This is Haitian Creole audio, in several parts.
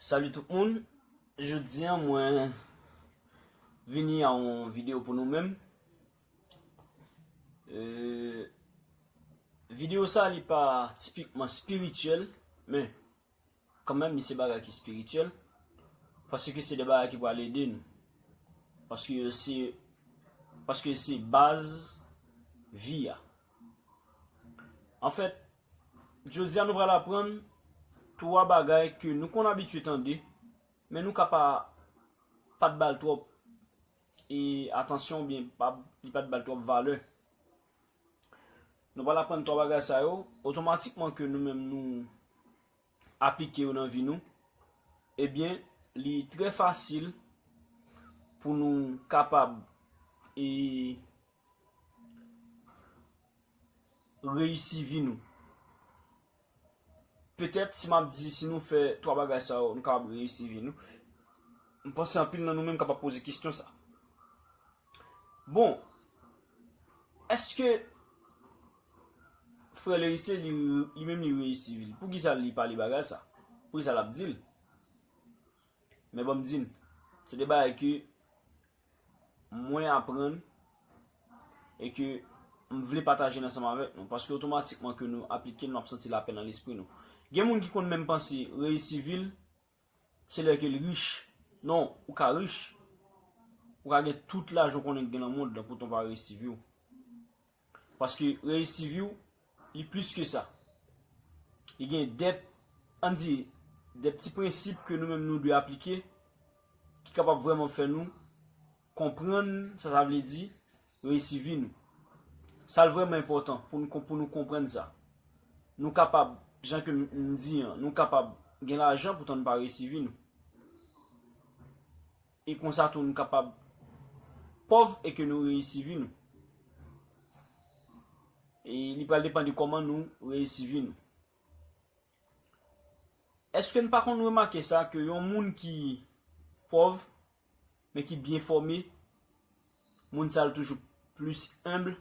Salut tout moun, jodi an mwen vini a yon video pou nou menm euh, Video sa li pa tipikman spirituel men Kanmenm li se bagay ki spirityèl, paske se de bagay ki pral ede nou, paske yo se, paske se baz vi a. Anfèt, jodi a nou pral aprann 3 bagay ke nou konn abitye tande, men nou ka pa pat bal twòp e atansyon oubyen pa li pat bal twòp valè. Nou pral aprann 3 bagay sa yo, otomatikman ke nou menm nou aplike yo nan vi nou, ebyen li trè fasil pou nou kapab e reyisi vi nou. Petèt si m ap di si nou fè twa bagay sa yo nou kapab reyisi vi nou, m panse anpil nan nou menm kapab poze kesyon sa. Bon, èske frè Lerice li menm li reyisi vi l? Poukisa li pale bagay sa? Poukisa l ap di l? Men ban m di n, se de bagay ke mwen aprann e ke m vle pataje l ansanm avèk nou, paske otomatikman ke nou aplike l nou ap santi lapè nan lespri nou. Gen moun ki konn menm panse reyisi vi l se lè ke l rich. Non, ou ka rich, ou ka gen tout lajan w konnen gen nan mond lan poutan w pa reyisi vi w. Paske reyisi vi w, li plis ke sa. Li gen de, an di, de ti prensip ke nou menm nou dwe aplike, ki kapab vreman fè nou konprann sa sa vle di reyisi vi nou. Sa l vreman enpotan pou nou pou nou konprann sa. Nou kapab, jan ke m di an, nou kapab gen lajan poutan nou pa reyisi vi nou. E konsa tou nou kapab pòv e ke nou reyisi vi nou. E li pral depan de kòman nou reyisi vi nou. Eske nou pa konn remake sa ke yon moun ki pòv men ki byen fòme, moun sa l toujou plis humble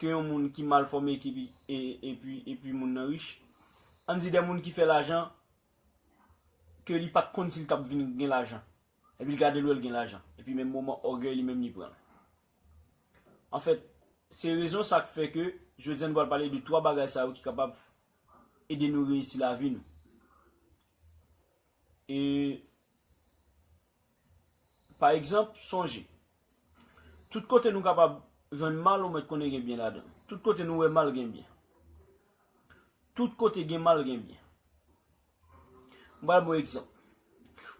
ke yon moun ki mal fòme e pi moun nan rich. Ann di de moun ki fè lajan ke li pat konn si li tap vin gen lajan epi li gade l wè l gen lajan epi menm moman ògèy li menm li pran l anfèt se rezon sa k fè ke jodi a nou pral pale de 3 bagay sa yo ki kapab ede nou reyisi lavi nou e. Pa egzanp, sonje, Tout kote nou kapab jwenn mal ou mèt konnen gen byen ladan. Tout kote nou wè mal gen byen. Tout kote gen mal gen byen. M pral ba w egzanp.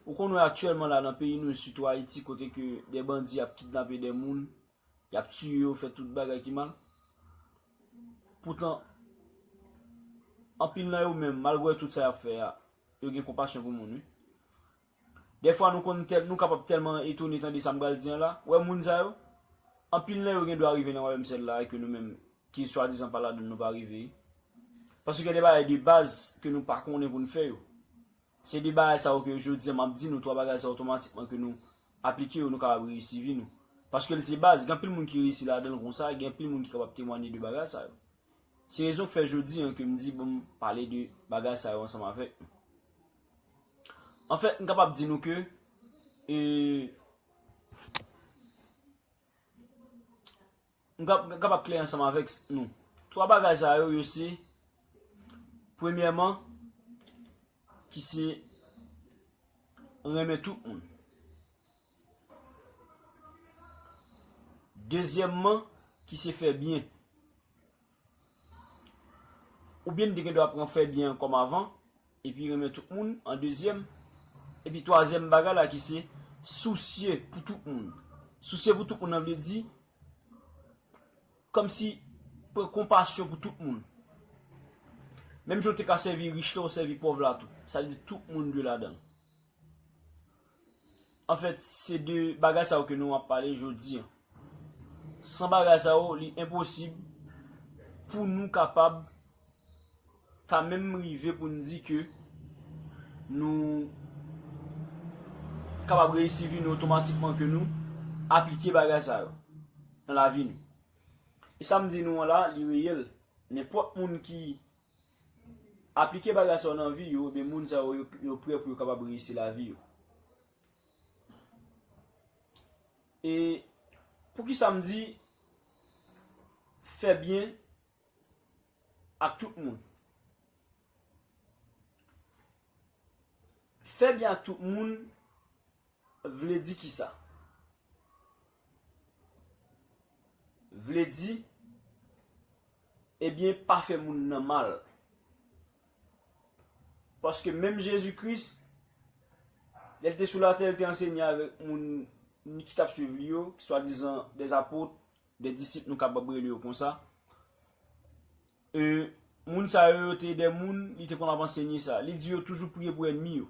Ou konn wè aktyèlman la nan peyi nou e sitou Ayiti kote ke de bandi ap kidnape de moun, y ap tiye yo, fè tout bagay ki mal. Poutan, anpil nan yo menm, malgre tout sa y ap fè a, yo gen konpasyon pou moun wi. Dèfwa nou konn tèl, nou kapab tèlman etone tande sa m pral di an la. Wè moun sa yo? Anpil nan yo gen dwa rive nan wayòm syèl la e ke nou menm ki swadizan pa ladan l nou pa rive. Paske gen de bagay de baz ke nou pa konnen pou n fè yo. Se de bagay sa yo ke jodi an m ap di nou 3 bagay sa yo otomatikman ke nou aplike yo nou kapab reyisi vi nou. Paske l se baz, gen anpil moun ki reyisi ladan l konsa, gen anpil moun ki kapab temwanye de bagay sa yo. Se rezon k fè jodi an ke m di pou m pale de bagay sa yo ansanm avèk nou. Anfèt, m kapab di nou ke, e, m kapab klè ansanm avèk nou. Twa bagay sa yo, yo se, premyèman, ki se renmen tout moun. Dezyèmman, ki se fè byen. Oubyen n te gen dwa pran fè byen an kòm avan, epi renmen tout moun an dezyèm. Epi twazyèm bagay la ki se sousye pou tout moun. Sousye pou tout moun nan vle di, kòm si pran konpasyon pou tout moun. Menm jan w te ka sèvi rich la, ou sèvi pòv la tou. Sa vle di tout moun dwe ladan l. An fèt, se de bagay sa yo ke nou ap pale jodi an. San bagay sa yo, li enposib pou nou kapab ta menm rive pou n di ke nou kapab reyisi vi nou otomatikman, ke nou aplike bagay sa yo nan lavi nou. E sa m di nou an la, li reyèl. Nenpòt moun ki. Aplike bagay sa yo nan vi yo, ebyen moun sa yo, yo prè pou yo kapab reyisi lavi yo. E, pou ki sa m di, fè byen ak tout moun? Fè byen ak tout moun, vle di ki sa? Vle di. Ebyen pa fè moun nan mal. Paske menm Jezi Kris, lè l te sou latè, l te ansenye avèk moun ki t ap suiv li yo, ki swadizan dè apot, dè disip nou kapab rele yo konsa. E moun sa yo, yo te dè moun li te konn ap ansenye sa. Li di yo toujou priye pou ènmi yo.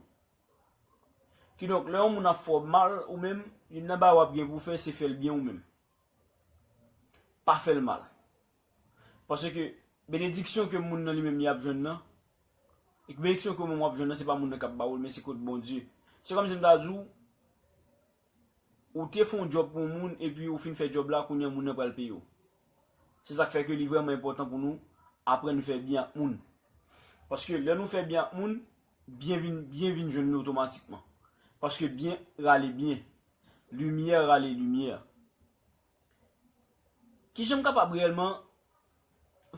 Kidonk lè yon moun ap fè w mal ou menm, youn nan bagay w ap gen pou w fè se fè l byen ou menm. pa fè l mal. Paske, benediksyon ke moun nan li menm li ap jwenn nan, e ke benediksyon ke ou menm w ap jwenn nan, se pa moun nan k ap ba ou l, men se kot Bondye. Se kòmsi m ta di w, ou te fè yon djòb pou yon moun, epi ou fin fè djòb la, kounye a moun nan pral peye w. Se sa k fè ke li vrèman enpòtan pou nou aprann fè byen ak moun. Paske, lè nou fè byen ak moun, byen vin, byen vin jwenn nou otomatikman. Paske byen rale byen. Limyè rale limyè. Ki jan m kapab reyèlman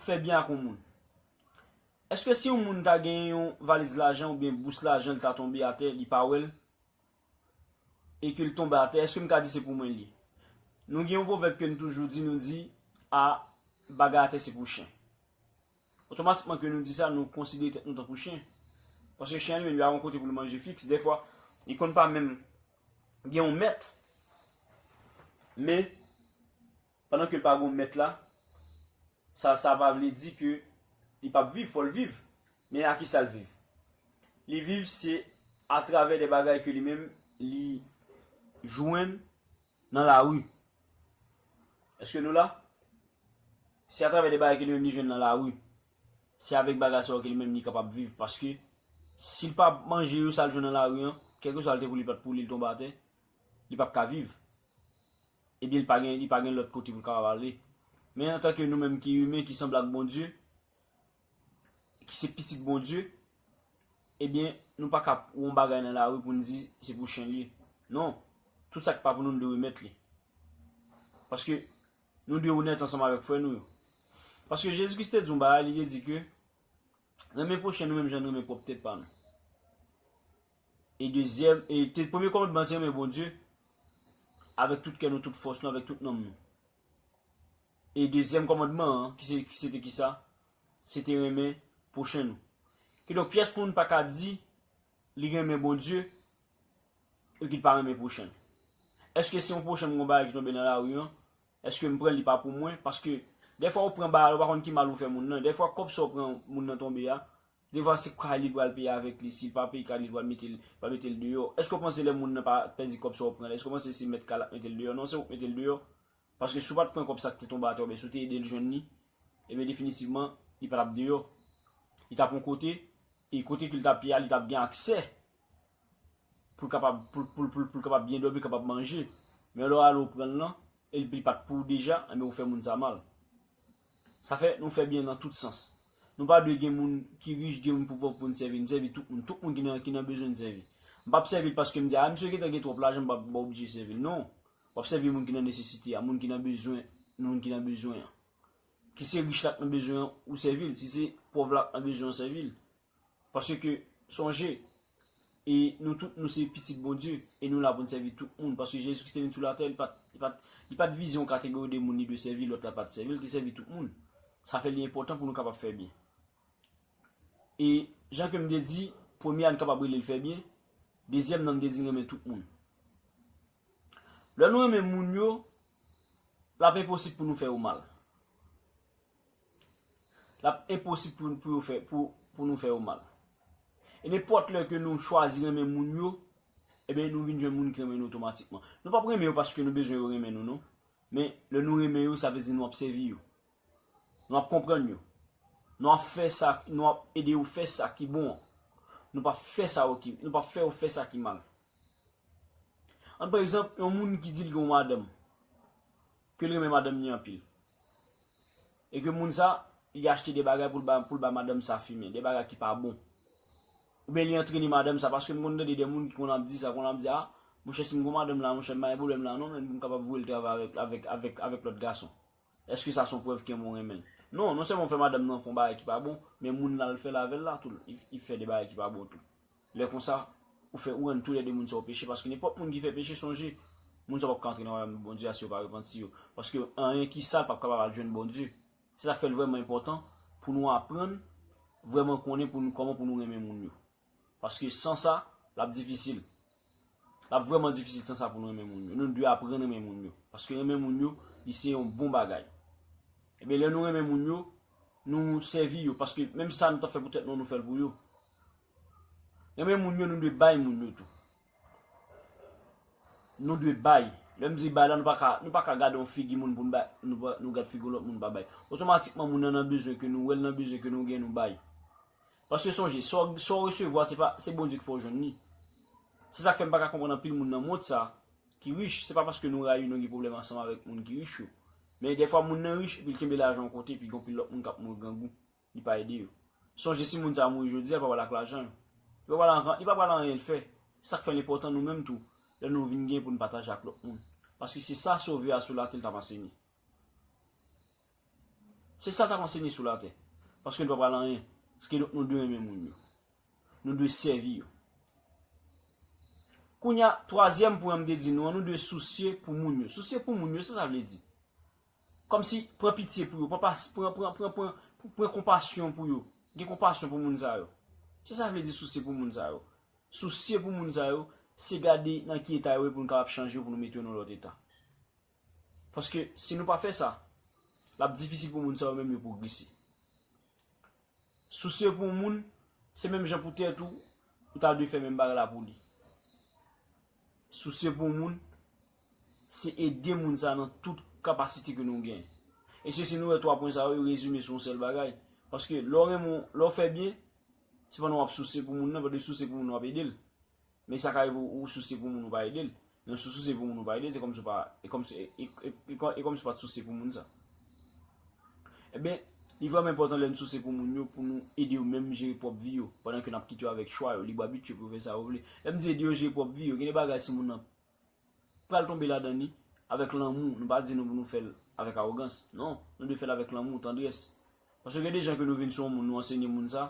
fè byen ak yon moun? Èske si yon moun ta gen yon valiz lajan oubyen bous lajan li ta tonbe atè li pa wè l e ke l tonbe atè, èske m ka di se pou mwen l ye? Nou gen yon pwovèb ke n toujou di, nou di, a bagay atè se pou chen. Otomatikman ke nou di sa, nou konsidere tèt nou tankou chen. Paske chen an li menm li pa gen yon kote pou l manje fiks. Dèfwa, li konn pa menm. Gen yon mèt, men, pandan ke l pa gen yon mèt la, sa, sa pa vle di ke li pap viv, fò l viv. Men a ki sa l viv? Li viv se atravè de bagay ke li menm li jwenn nan lari. Eske nou la? Se atravè de bagay ke li menm li jwenn nan lari. Se avèk bagay sa yo ke li menm li kapab viv paske si l pa manje yo sa l jwenn nan lari an, kèlkeswa l te voule l pa t pou li l tonbe atè, li p ap ka viv. Ebyen li pa gen li pa gen lòt kote pou l kapab ale. Men antanke nou menm ki imen ki sanble ak Bondye, ki se pitit Bondye, ebyen nou pa ka wè yon bagay nan lari pou n di se pou chen l ye. Non, tout sa ki pa pou nou nou dwe remèt li. Paske. Nou dwe onèt ansanm avèk frè nou yo. Paske Jezi Kris te di yon bagay, li te di ke, Renmen pwochen nou menm jan nou renmen pwòp tèt pa nou. E dezyèm, e te premye kòmandman an se renmen Bondye avèk tout kè nou, tout fòs nou, avèk tout nanm nou. E dezyèm kòmandman an, ki se, se te ki sa? Se te renmen pwochen nou. Kidonk pyès moun pa ka di li renmen Bondye Epi l pa renmen pwochen. Eske se yon pwochen m gen yon bagay ki tonbe nan lari an, eske m pran li pa pou mwen? Paske dèfwa ou pran bagay la ou pa konn ki mal ou fè moun nan. Dèfwa kòb sa ou pran moun nan tonbe a, dèfwa se kay li pral peye avèk li. Si l pa peye kay li, li pral mete l pral mete l deyò. Eske ou panse lè moun nan pa pèdi kòb sa ou pran l, eske ou panse se mèt kay la k mete l deyò? Non se ou k mete l deyò. Paske si ou pa t pran kòb sa k te tonbe atè oubyen si ou te ede l jwenn li, ebyen definitivman li pa t ap deyò. Li t ap yon kote, e kote ke li t ap ye a li t ap gen aksè pou l kapab pou pou l kapab byen dòmi kapab manje men lè w ale w pranl lan e li pat pou w deja enben ou fè moun sa mal sa fè nou fè byen nan tout sans nou pa dwe gen moun ki rich gen moun ki pòv pou n sèvi n sèvi tout moun tout moun ki nan ki nan bezwen n sèvi m pap sèvi l paske m di a misye gentan gen twòp lajan m pa m pa oblije sèvi l non wap sèvi moun ki nan nesesite a moun ki nan bezwen moun ki nan bezwen an ki se rich la k nan bezwen an ou sèvi l si se pòv la k nan bezwen an sèvi l Paske, sonje, e nou tout nou se pitit Bondye, e nou la pou n sèvi tout moun. Paske Jezi Kris te vin sou latè, li pat, li pat, li pat vize yon kategori de moun li dwe sèvi, lòt la pat sèvi, li te sèvi tout moun. Sa fè li enpòtan pou nou kapab fè byen. E, jan ke m te di, premye a n kapab rele l fè byen, dezyèm nan m te di renmen tout moun. Lè nou renmen moun yo, l ap enposib pou nou fè yo mal. L ap enposib pou yo fè, pou nou fè yo mal. E nenpòt lè ke nou chwazi renmen moun yo, eben nou vin jwenn moun ki renmen nou otomatikman. Nou p ap renmen yo paske nou bezwen yo renmen nou non. Men, lè nou renmen yo, sa vle di nou ap sèvi yo. Nou ap konprann yo. Nou ap fè sa, nou ap ede yo fè sa ki bon an. Nou p ap fè sa yo ki, nou p ap fè yo fè sa ki mal. An pran egzanp, yon moun ki di l gen yon madanm. Ke l renmen madanm ni anpil. E ke moun sa, li achte de bagay pou l ba pou l ba madanm sa fimen, de bagay ki pa bon. Oubyen li antrene madanm sa, paske m konn tande de moun ki konn ap di sa, konn ap di a, monchè si m kon madanm la monchè m pa gen pwoblèm la non men pou m kapab voye l travay avèk avèk avèk avèk lòt gason. Eske sa son prèv ke moun renmen l? Non, non sèlman ou fè madanm nan fè yon bagay ki pa bon, men moun l al fè l avè l la tou, li li fè de bagay ki pa bon tou. Lè konsa, ou fè ou rann tou lè de moun sa yo peche, paske nenpòt moun ki fè peche, sonje, moun sa yo p ap ka antre nan wayòm Bondye a si yo pa repanti yo, paske anyen ki sal p ap kapab al jwenn Bondye. Se sa k fè l vrèman enpòtan pou nou aprann vrèman konnen pou nou kòman pou nou renmen moun yo, paske san sa, l ap difisil. L ap vrèman difisil san sa pou nou renmen moun yo. Nou dwe aprann renmen moun yo, paske renmen moun yo, li se yon bon bagay. Enben, lè nou renmen moun yo, Nou sèvi yo, paske menm sa nou t ap fè pou tèt nou an nou fè l pou yo. Renmen moun yo, nou dwe bay moun yo tou. Nou dwe bay. Lè m di bay la, nou pa ka, nou pa ka gade yon figi moun pou n bay, nou gad figi yon lòt moun nou pa bay. Otomatikman moun nan nan bezwen ke nou wè l nan bezwen ke nou gen nou bay. Paske sonje, sa w resevwa se pa, se Bondye ki fè w jwenn li. Se sa k fè m pa ka konprann anpil moun nan mond sa, ki rich, se pa paske nou rayi nou gen pwoblèm ansanm avèk moun ki rich yo. Men dèfwa moun nan rich epi l kenbe lajan yon kote epi gen yon pil lòt moun k ap mouri grangou, li pa ede yo. Sonje si moun sa a mouri jodi a, l pa pral ak lajan yo. Li pa pral an rant, li pa pral anyen l fè. Se sa k fè l enpòtan nou menm tou, lè nou vin gen pou n pataje ak lòt moun. Paske se sa Sovè a sou latè l t ap ansenye. Se sa l t ap ansenye sou latè. Paske l pa pral anyen. Ske donk nou dwe renmen moun yo. Nou dwe sèvi yo. Kounya, twazyèm pwen an m te di nou an, nou dwe sousye pou moun yo. Sousye pou moun yo, sa sa vle di? Kòmsi, pran pitye pou yo, pran pas, pran, pran, pran, pran, pran konpasyon pou yo, gen konpasyon pou moun sa yo. Se sa vle di sousye pou moun sa yo. Sousye pou moun sa yo, se gade nan ki eta yo ye pou nou kapab chanje yo, pou nou mete yo nan yon lòt eta. Paske, si nou pa fè sa, l ap difisil pou moun sa yo menm yo pwogrese. Sousye pou yon moun, se menm jan pou tèt ou, ou ta dwe fè menm bagay la pou li. Sousye pou yon moun, se ede moun sa nan tout kapasite ke nou gen. E se si nou wè 3 pwen sa yo, yo rezime sou yon sèl bagay. Paske lè w renmen, lè w fè byen, se pandan w ap sousye pou moun nan, pandan w sousye pou moun nan w ap ede l. Men sa ka rive ou sousye pou moun ou pa ede l. Men si w sousye pou moun ou pa ede l, se kòmsi w pa, e kòmsi, e kòmsi w pa t sousye pou moun sa. Enben, li vrèman enpòtan lè n sousye pou moun yo pou nou ede yo menm jere pwòp vi yo, pandan ke n ap kite yo avèk chwa yo, lib abit yo pou yo fè sa yo vle. Lè m di ede yo jere pwòp vi yo, gen de bagay si moun nan pral tonbe ladan li, avèk lanmou, nou pa di nou pou nou fè l avèk awogans, non, nou dwe fè l avèk lanmou, tandrès. Paske gen de jan ke nou vin sou yon moun, nou ansenye moun sa.